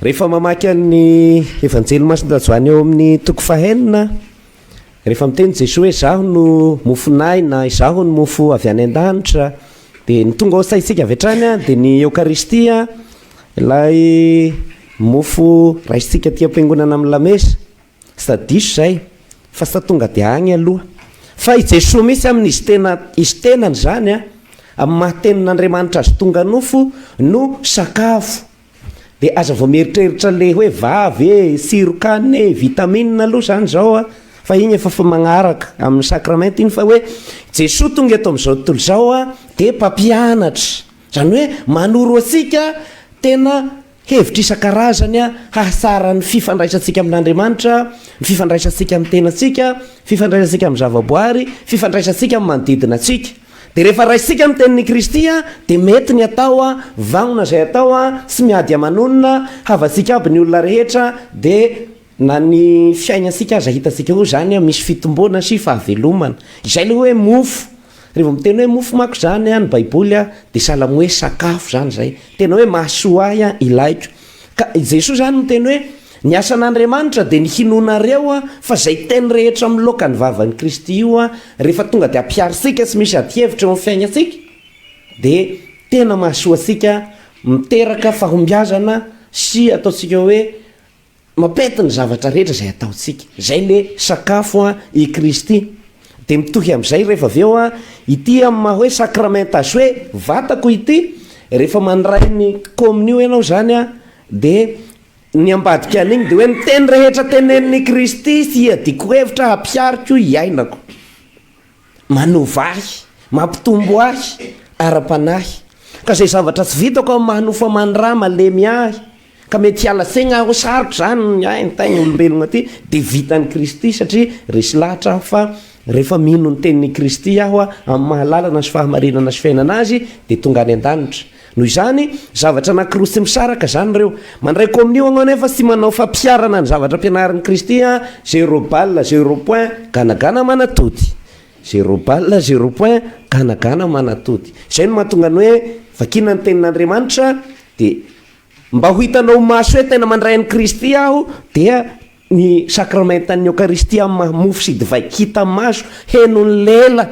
Rehefa mamaky an'ny Evanjely Masin'i Joany ao amin'ny toko fahenina, rehefa miteny Jesoa hoe izaho no mofon'ahy na izaho no mofo avy any an-danitra, dia ny tonga ao saintsika avy hatrany dia ny Eokaristia, ilay mofo raisintsika aty am-piangonana amin'ny lamesa. Tsy tadiso izay fa sa tonga dia agny aloha. Fa i Jesoa mihitsy amin'ny izy tena, izy tenany izany, amin'ny maha-tenin'Andriamanitra azy tonga nofo no sakafo. De aza vao mieritreritra le hoe vavy e, sirokanina e, vitamine aloha zany zao a, fa iny efa fa magnaraka amin'ny sacrament iny fa hoe Jesoa tonga eto amin'izao tontolo izao a de mpampianatra, zany hoe manoro antsika tena hevitra isan-karazany a hahatsara ny fifandraisantsika amin'Andriamanitra, ny fifandraisantsika amin'ny tenantsika, fifandraisantsika amin'ny zavaboary, fifandraisantsika amin'ny manodidina antsika. Dia rehefa raisika ny tenin'i Kristy dia mety ny atao vanona izay atao tsy miady aman'olona, havantsika aby ny olona rehetra dia na ny fiainantsika aza hitantsika hoe izany misy fitomboana sy fahavelomana. Izay ilay hoe mofo. Rehefa miteny hoe mofo manko izany ny baiboly dia sahala amin'ny hoe sakafo izany izay. Tena hoe mahasoa ahy ilaiko. Ka i Jesoa izany miteny hoe. Ny asan'Andriamanitra dia ny hinoanareo fa izay teny rehetra miloaka ny vavan'i Kristy io rehefa tonga dia ampiharo tsika sy misy adihevitra eo amin'ny fiainantsika dia tena mahasoa antsika miteraka fahombiazana sy ataontsika hoe mapety ny zavatra rehetra izay ataontsika izay le sakafo i Kristy dia mitohy amin'izay rehefa avy eo ity amin'ny maha hoe sakramenta azy hoe vatako ity rehefa mandray ny kominio ianao izany dia Ny ambadika an'iny dia hoe ny teny rehetra tenenin'i Kristy sy iadiko hevitra hampihariko hiainako, manova ahy, mampitombo ahy ara-panahy. Ka izay zavatra tsy vitako amin'ny maha nofo-aman'i Ra malemy ahy, ka mety hiala saigna aho hoe sarotra izany ny ahy, ny tain'ny olombelogna ity, dia vitan'i Kristy satria resy lahatra aho fa rehefa mino ny tenin'i Kristy aho amin'ny maha lalana sy fahamarinana sy fiainana Azy dia tonga any an-danitra. Noho izany, zavatra anankiroa tsy misaraka izany ireo. Mandray komonio ianao nefa tsy manao fampiharana ny zavatra ampianarin'i Kristy an! Zero balle, zero point, ganagana manatody. Zero balle, zero point, ganagana manatody. Izay no mahatonga ny hoe, vakina ny Tenin'Andriamanitra dia mba ho hitanao ho maso hoe tena mandray an'i Kristy aho dia Ny Sakramentan'ny Eokaristia amin'ny maha mofo sy divay hita maso henon'ny lela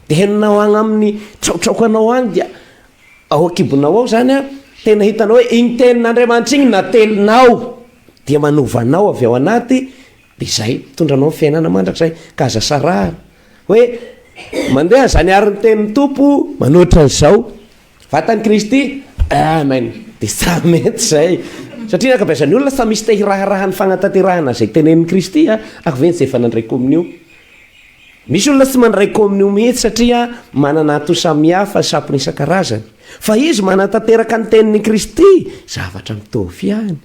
dia henonao agny amin'ny traotraokanao agny dia ao an-kibonao ao izany an, tena hitanao hoe igny Tenin'Andriamanitra igny natelinao dia manova anao avy ao anaty dia izay mitondra anao amin'ny fiainana mandrakizay ka aza sarahana hoe mandeha izany ary ny Tenin'ny Tompo manoatra an'izao. Vatan'i Kristy, Amen! Dia samy mety izay. Satria ny ankabeazan'ny olona samy misy te hiraharaha ny fanatanterahana izay tenenin'i Kristy a. Ary ve ny izay efa nandray kominio? Misy olona tsy mandray kominio mihitsy satria manana antony samihafa, sampona isan-karazany. Fa izy manatanteraka ny tenin'i Kristy, zavatra mitovy ihany.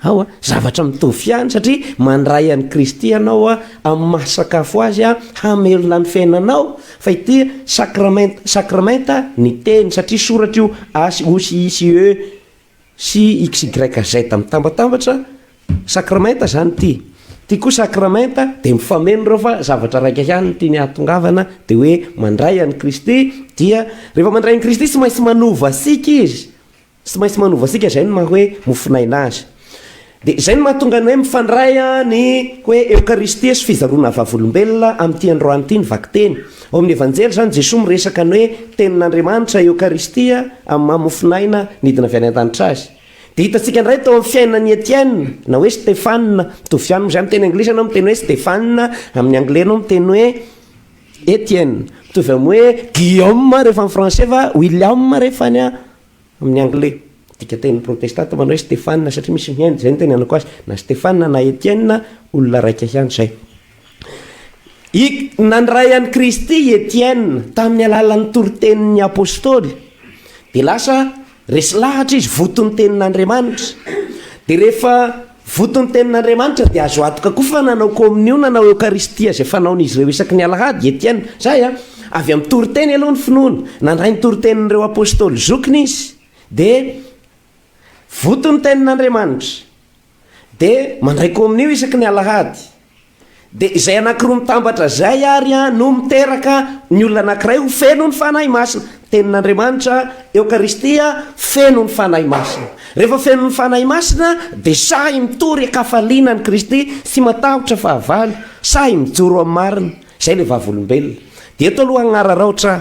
Ao a, zavatra mitovy ihany satria mandray an'i Kristy ianao amin'ny maha sakafo Azy hamelona ny fiainanao, fa ity sacrament, sacrament ny teny satria soratra io asy, osy, isy, ë, sy xyz mitambatambatra, sacrament izany ity, ity koa sacrament dia mifameno ireo fa zavatra raika ihany no tiany hahatongavana dia hoe mandray an'i Kristy dia rehefa mandray an'i Kristy tsy maintsy manova antsika Izy, Tsy maintsy manova antsika izay no maha hoe mofon'aina azy. Dia izay no mahatonga ny hoe mifandray ny hoe Eokaristia sy fizaroana vavolombelona amin'ity androany ity ny vakiteny. Ao amin'ny Evanjely izany, Jesoa miresaka ny hoe Tenin'Andriamanitra, Eokaristia, amin'ny maha mofon'aina nidina avy any an-danitra Azy. Dia hitantsika indray tao amin'ny fiainan'i Etienne, na hoe Stefana, mitovy ihany amin'izay miteny anglisy ianao miteny hoe Stefana, amin'ny anglais ianao miteny hoe Etienne. Mitovy amin'ny hoe Guillaume rehefa amin'ny français fa William rehefa any Amin'ny anglais, dikanteny protestanta manao hoe Stefana satria misy mihaino, izay no itenenako azy, na Stefana na Etienne, olona raika ihany izay. I, nandray an'i Kristy i Etienne tamin'ny alalan'ny toritenin'ny apostoly, dia lasa resy lahatra izy voton'ny tenin'Andriamanitra, dia rehefa, Voto ny tenin'Andriamanitra dia azo antoka koa fa nanao Kaominiona na Eokaristia izay fanaon'izy ireo isaky ny Alahady, Etienne. Izay an! Avy amin'ny toriteny aloha ny finoana. Nandray ny toritenin'ireo Apôstôly zokiny izy. Dia Voto ny tenin'Andriamanitra. Dia mandray Kaominio isaky ny Alahady. Dia izay anankiroa mitambatra izay àry no miteraka ny olona anankiray ho feno ny Fanahy Masina. Tenin'Andriamanitra, Eokaristia, feno ny Fanahy Masina. Rehefa feno ny Fanahy Masina dia sahy mitory an-kafaliana an'i Kristy, tsy matahotra fahavalo, sahy mijoro amin'ny marina. Izay ilay vavolombelona. Dia eto aloha hagnararaotra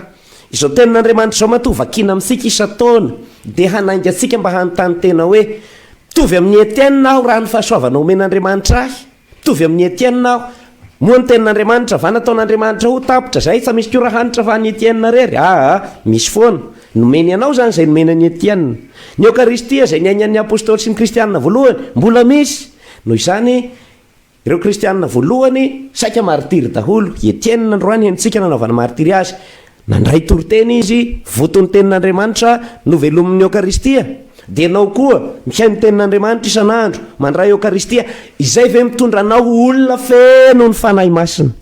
izao Tenin'Andriamanitra izao matoa vakiana amintsika isan-taona dia hanainga antsika mba hanontany tena hoe, Mitovy amin'i Etienne aho raha ny fahasoavana omen'Andriamanitra ahy? Mitovy amin'i Etienne aho. Moa ny tenin'Andriamanitra va nataon'Andriamanitra ho tapitra zay? Fa misy ko ra hanitra fa an'i Etienne rery? Aa, misy foana. Nomeny anao zany zay nomeny an'i Etienne. Ny Eokaristia zay niainan'ny Apostoly sy ny Kristianina voalohany, mbola misy. Noho izany, ireo Kristianina voalohany saika martiry daholo. I Etienne androany henontsika nanaovana martiry azy. Nandray toriteny izy, Voto ny Tenin'Andriamanitra, novelomin'ny Eokaristia. Dia ianao koa, mihaino ny Tenin'Andriamanitra isan'andro, mandray Eokaristia, izay ve mitondra anao ho olona feno ny Fanahy Masina?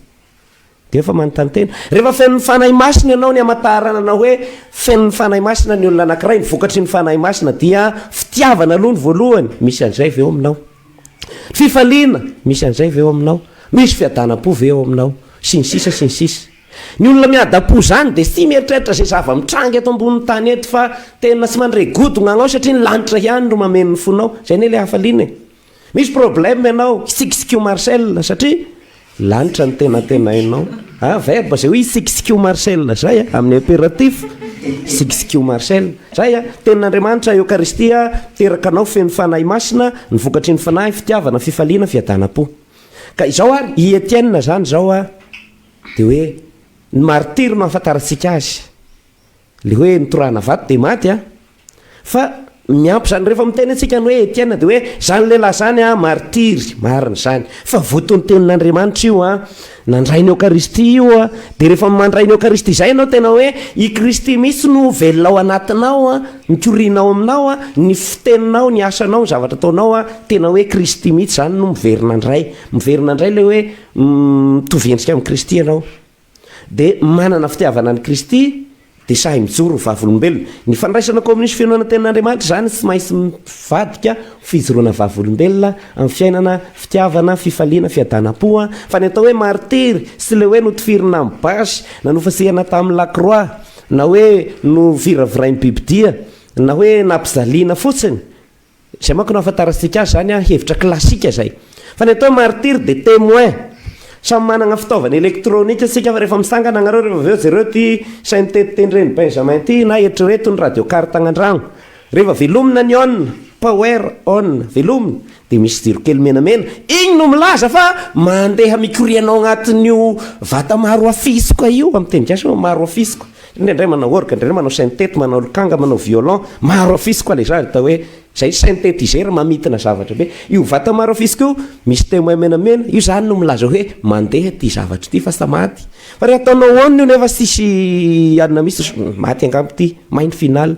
Dia efa manontany tena. Rehefa fenon'ny Fanahy Masina ianao, ny hamantarana anao hoe fenon'ny Fanahy Masina ny olona anankiray, ny vokatry ny Fanahy Masina dia fitiavana aloha ny voalohany, misy an'izay ve eo aminao? Fifaliana, misy an'izay ve eo aminao? Misy fiadanam-po ve eo aminao? Sy ny sisa, sy ny sisa. Ny olona miadam-po izany dia tsy mieritreritra izay zava-mitranga eto ambonin'ny tany eto fa tena tsy mandre godogna anao satria ny lanitra ihany no mameno ny fonao. Izay anie ilay hafaliana e! Misy problème ianao, hitsikitsikiho Marcel satria lanitra no tena antenainao. An, verbe izay hoe hitsikitsikiho Marcel izay an, amin'ny impératif, hitsikitsikiho Marcel. Izay an, Tenin'Andriamanitra, Eokaristia, miteraka anao feno Fanahy Masina, ny vokatry ny Fanahy, fitiavana, fifaliana, fiadanam-po. Ka izao ary, i Etienne izany izao an, Dia hoe ny martiry no ahafantarantsika azy. Ilay hoe nitorahana vato dia maty an! Fa miampy izany rehefa miteny antsika ny hoe Etienne dia hoe izany lehilahy izany an, martiry, marina izany. Fa votoantenin'Andriamanitra io an, nandray ny Eokaristia io an, dia rehefa mandray ny Eokaristia izay ianao tena hoe i Kristy mihitsy no velona ao anatinao an, mikoriana ao aminao an, ny fiteninao, ny asanao, ny zavatra ataonao an, tena hoe Kristy mihitsy izany no miverina indray. Miverina indray ilay hoe Mitovy endrika amin'i Kristy ianao, dia manana fitiavana an'i Kristy, dia sahy mijoro ho vavolombelona. Ny fandraisana kaominisy feno anantenin'Andriamanitra izany tsy maintsy mivadika ho fijoroana vavolombelona amin'ny fiainana, fitiavana, fifaliana, fiadanam-po. Fa ny atao hoe martiry sy ilay hoe notifirina amin'ny basy, na nofasehana tamin'ny lakroa, na hoe noviravirain'ny bibidia, na hoe nampijaliana fotsiny, Izay manko no ahafantarantsika azy izany, hevitra klasika izay. Fa ny atao martyrs de témoins. Samy manana fitaovana elektronika isika fa rehefa misangana ianareo rehefa avy eo jereo ity saintety-teny Reny Benjamin ity na eritrereto ny radio car tagny andragno. Rehefa velomina ny on, power on, velomina, dia misy jiro kely menamena, igny no milaza fa mandeha mikoriana ao agnatin'io vata maro afisiko io, amin'ny teny gasy hoe maro afisiko. Indraindray manao orgue, indraindray manao syntety, manao lokanga, manao violon, maro afisy koa le zany atao hoe zay synthétiseur mamintina zavatra be. Io vata maro afisy ko misy temoin menamena io zany no milaza hoe mandeha ity zavatra ity fa sa maty? Fa re ataonao on io nefa sisy anona misy maty angamba ity, may ny final.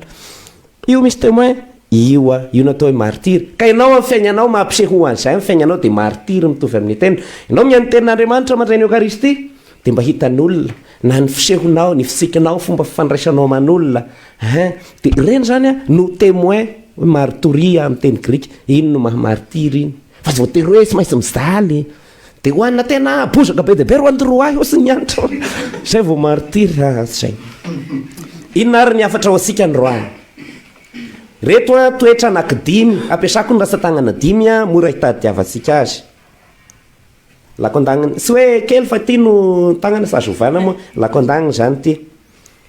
Io misy témoin io a! Io natao hoe martyr. Ka ianao amin'ny fiainanao mampiseho ho an'izay ny fiainanao dia martyr mitovy amin'ny tena. Ianao mihaino ny tenin'Andriamanitra mandray ny Eokaristia dia mba hitan'olona na ny fisehonao, ny fitsikinao, fomba fifandraisanao aman'olona hein! Dia ireny izany an no témoin hoe martoria amin'ny teny grika. Iny no maha martyr iny. Fa voatery hoe tsy maintsy mijaly. Dia ho anà tena bozaka be dia be ry Wandry roahy ô sy ny antso izay vao martyr a izay. Inona ary ny hafatra ho antsika ny roahy? Ireto an toetra anakidimy ampiasako ny ratsan-tagnana dimy an mora hitadiavantsika azy. Lako an-dagniny, tsy hoe kely fa ity no tagnana fa azo ovana moa, lako an-dagniny izany ity.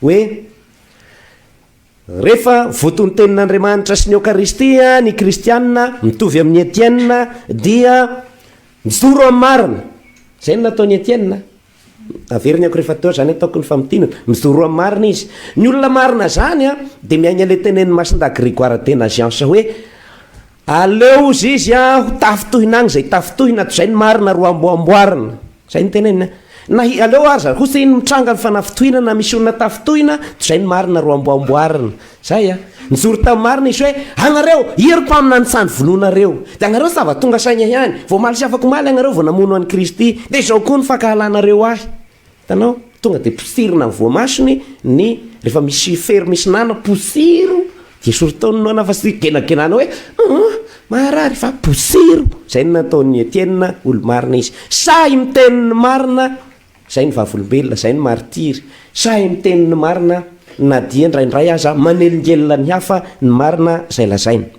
Hoe Rehefa voatonontenin'Andriamanitra sy ny Eokaristia ny kristiana mitovy amin'i Etienne dia mijoro amin'ny marina. Izay no nataon'i Etienne. Averiny akory efa teo izany ataoko ny famintinana. Mijoro amin'ny marina izy. Ny olona marina izany dia miaina ilay tenenin'ny Masindahy Grégoire de Nazianze hoe Aleo hozy izy a ho tafintohina agny zay tafintohina ato zay ny marina ro ambo amboarina zay ny teneniny a na hi aleo aza hozy iny mitranga ny fanafintohinana misy olona tafintohina to zay ny marina ro ambo amboarina zay a nijoro tam marina izy hoe agnareo ia ry mpamina nitsandry vonoanareo de agnareo sa va tonga saigna ihany voamaly sy afakomaly agnareo vao namono any Kristy de zao koa ny fankahalanareo ahy Hitanao? Tonga dia posirina ny voamasony ny rehefa misy fery misy nana, posiro dia soritao ny nana fa tsy genagenana hoe hum maharary fa posiro. Izay no nataon'i Etienne olo-marina izy. Sahy miteny ny marina, izay ny vavolombelona, izay ny maritiry. Sahy miteny ny marina na dia indraindray aza manelingelina ny hafa ny marina izay lazainy.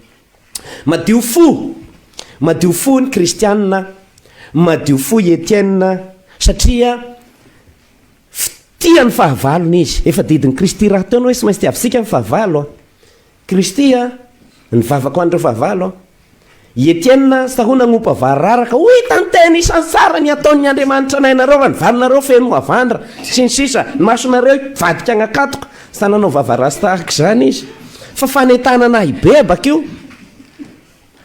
Madio fo! Madio fo ny kristianina, madio fo i Etienne satria tia ny fahavalony izy. Efa didin'i Kristy rahateo ny hoe tsy maintsy tiavisika ny fahavalo an! Kristy an! Ny vavako an'ireo fahavalo an! I Etienne tsy tahona hanompa vararaka, ho hitan'ny tena isan'ny tsara ny ataon'ny Andriamanitra anay nareo raha ny valinareo feno mavandra, sy ny sisa, ny masonareo hivadika hanakatoka, Sa nanao vava rasta araka izany izy? Fa fanentanana ahy bebaka io.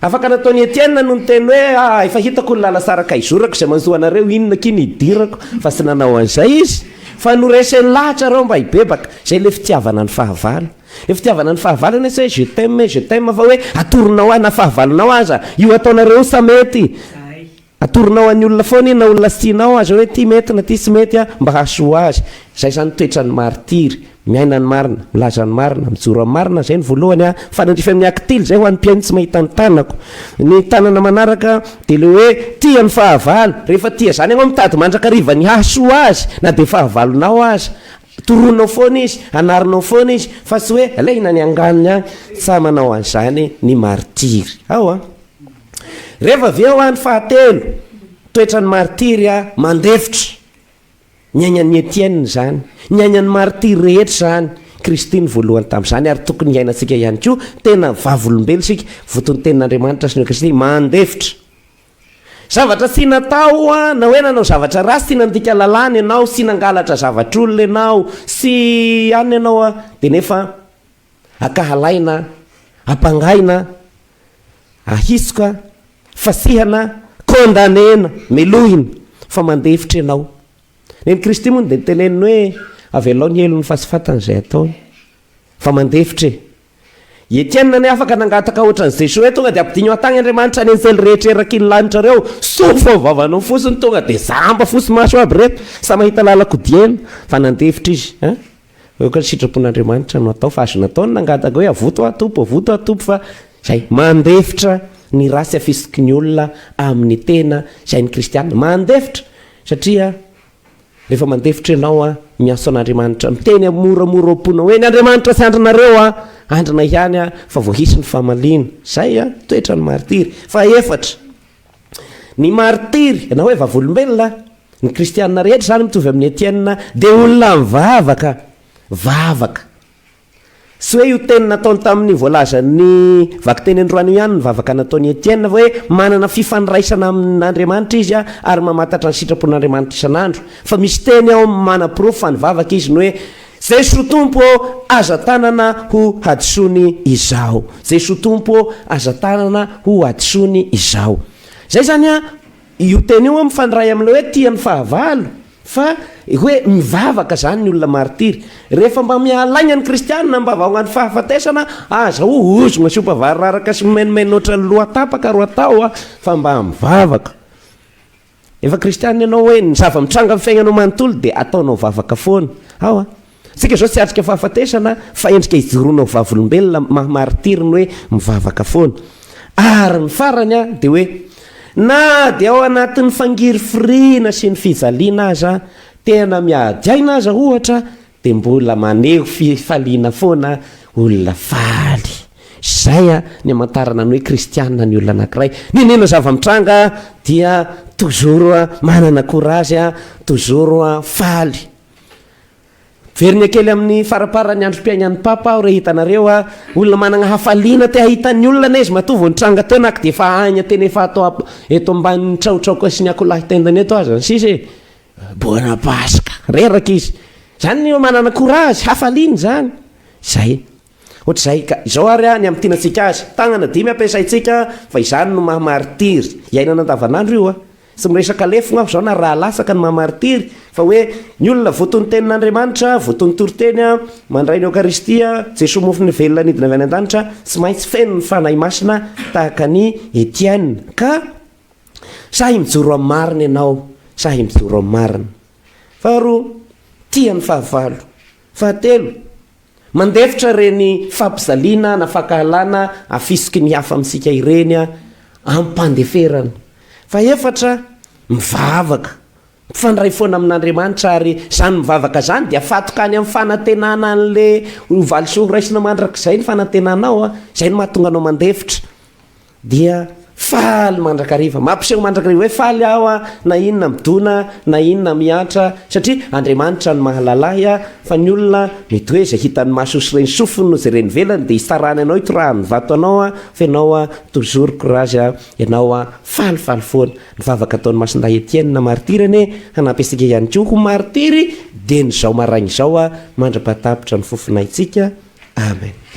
Afaka nataon'i Etienne no niteny hoe ah, efa hitako ny lalasaraka hizorako izay manjo anareo, inona akia ny hidirako? Fa tsy nanao an'izay izy. Fa noreseny lahatra ireo mba hibebaka. Izay ilay fitiavana ny fahavalo. Ilay fitiavana ny fahavalo anie tsy hoe je t'aime, je t'aime fa hoe atoronao ahy na fahavalonao aza. Io ataonareo io sa mety? Atoronao an'ny olona foana iny na olona tsy tianao aza hoe ty mety na ty tsy mety an, mba hahasoa azy. Izay izany ny toetran'ny martiry. Miaina ny marina, milaza ny marina, mijoro amin'ny marina, izay ny voalohany an. Mifanandrify amin'ny Actile izay ho an'ny mpihaino tsy mahita ny tanako. Ny tanana manaraka dia ilay hoe tia ny fahavalo. Rehefa tia izany ianao mitady mandrakariva ny hahasoa azy na dia fahavalonao aza. Toroanao foana izy, anarinao foana izy fa tsy hoe alaina ny anganony an. Tsa manao an'izany ny martiry. Ao an. Rehefa avy eo, andro fahatelo, toetran'ny martiry a, mandefitra. Ny ainan'i Etienne izany, ny ainan'ny martiry rehetra izany. Kristy no voalohany tamin'izany ary tokony hiainantsika ihany koa, tena vavolombelona isika, votontenin'Andriamanitra sy ny Kristy, mandefitra. Zavatra tsy natao a, na hoe nanao zavatra ratsy, tsy nandika lalàna ianao, tsy nangalatra zavatr'olona ianao, tsy anona ianao a, dia nefa Ankahalaina, ampangaina, ahisoka, fasihana, condamnena, melohina, fa mandefitra ianao. Nen'i Kristy moa dia niteneniny hoe avelao ny helony fa tsy fantany izay ataony. Fa mandefitra e. I Etienne anie afaka nangataka ohatran'i Jesoa hoe tonga dia ampidino an-tany Andriamanitra ny anjely rehetra eraky ny lanitra ireo. Sofo amin'ny vavany ao fotsiny tonga dia zamba fo sy maso aby ireto. Samy mahita lalan-ko dieny. Fa nandefitra izy. Aoka ny sitrapon'Andriamanitra no atao fa azo natao ny nangataka hoe avoto aho Tompo, avoto aho Tompo fa izay mandefitra ny ratsy afisiky ny olona amin'ny tena izay ny kristiana mandefitra satria rehefa mandefitra ianao an, miantso an'Andriamanitra miteny moramora ao am-ponao hoe ny Andriamanitra tsy andrinareo an, andrina ihany aho fa vao hisy ny famaliana. Izay an, toetra ny martiry. Fahefatra. Ny martiry, na hoe vavolombelona, ny kristiana rehetra izany mitovy amin'i Etienne, dia olona mivavaka vavaka. Tsy hoe io teny nataony tamin'ny voalazan'ny vakiteny androany io ihany ny vavaka nataon'i Etienne, fa hoe manana fifandraisana amin'Andriamanitra izy ary mamantatra ny sitrapon'Andriamanitra isan'andro. Fa misy teny ao manaporofo fa nivavaka izy ny hoe Jeso Tompo ô aza tanana ho hadisoany izaho Jeso Tompo ô aza tanana ho hadisoany izaho Zay zany an io teny io an mifandray amin'ilay hoe tia ny fahavalo fa hoe mivavaka zany ny olona martiry rehefa mba mihalaigna ny kristianina mba vaonga ny fahafatesana aza ho ozogna sy ho mpavariraraka sy mimainomaino ohatran'ny lohatapaka ro atao fa mba mivavaka Efa kristianina ianao hoe ny zava-mitranga amin'ny fiaignanao manontolo dia ataonao vavaka foana. Awa. Isika izao tsy atrika fahafatesana fa endrika ijoroana ho vavolombelona maha maritiry ny hoe mivavaka foana. Ary ny farany a, dia hoe na dia ao anatin'ny fangirifiriana sy ny fijaliana aza, tena miady aina aza ohatra, Dia mbola maneho fifaliana foana olona faly. Izay ny amantarana ny hoe kristiana ny olona anankiray. Nenena zava-mitranga dia toujours manana courage, toujours faly. Miverina kely amin'ny faramparan'ny androm-piainan'ny Papa aho re hitanareo a! Olona manana hafaliana te hahita ny olona izy matoa vao nitranga teo na dia efa aigna tena efa ato eto ambanin'ny trahotraoka sy ny akoholahy tendany eto aza ny sisa e! Bona Paska. Reraka izy. Izany ny hoe manana courage, hafaliana izany. Izay. Ohatr'izay ka. Izao ary ny hamintinantsika azy. Tagnana dimy ampiasaintsika fa izany no maha maritiry. Iainana andavanandro io a. Tsy miresaka lefogna aho izao na raha latsaka ny maha maritiry fa hoe ny olona votontenin'Andriamanitra, voton'ny toriteny a, mandray ny Eokaristia, Jesoa Mofony Velona nidina avy any an-danitra, tsy maintsy feno ny Fanahy Masina tahaka an'i Etienne. Ka. Sahy mijoro amin'ny marina ianao, sahy mijoro amin'ny marina. Faharoa, tia ny fahavalo. Fahatelo, mandefitra ireny fampijaliana na fankahalana afisiky ny hafa amintsika ireny amim-pandeferana. Fahefatra, mivavaka. Mifandray foana amin'Andriamanitra ary izany mivavaka izany dia fatokany amin'ny fanantenana an'ilay valisoa horaisina mandrakizay ny fanantenanao, izay no mahatonga anao mandefitra. dia faly mandrakariva, mampiseho mandrakariva hoe faly aho a, na inona midona, na inona mihantra, satria Andriamanitra no mahalala ahy a, fa ny olona mety hoe izay hitan'ny masony sy ren'ny sofiny no jereny ivelany dia hitsarany anao hitorahany ny vato anao a, fa ianao a toujours courage a, ianao a faly faly foana, ny vavaka ataon'i Masindahy Etienne martyr anie hanampy antsika ihany koa ho martyr dieny izao maraina izao a, mandra-pahatapitra ny fofonaintsika, Amen.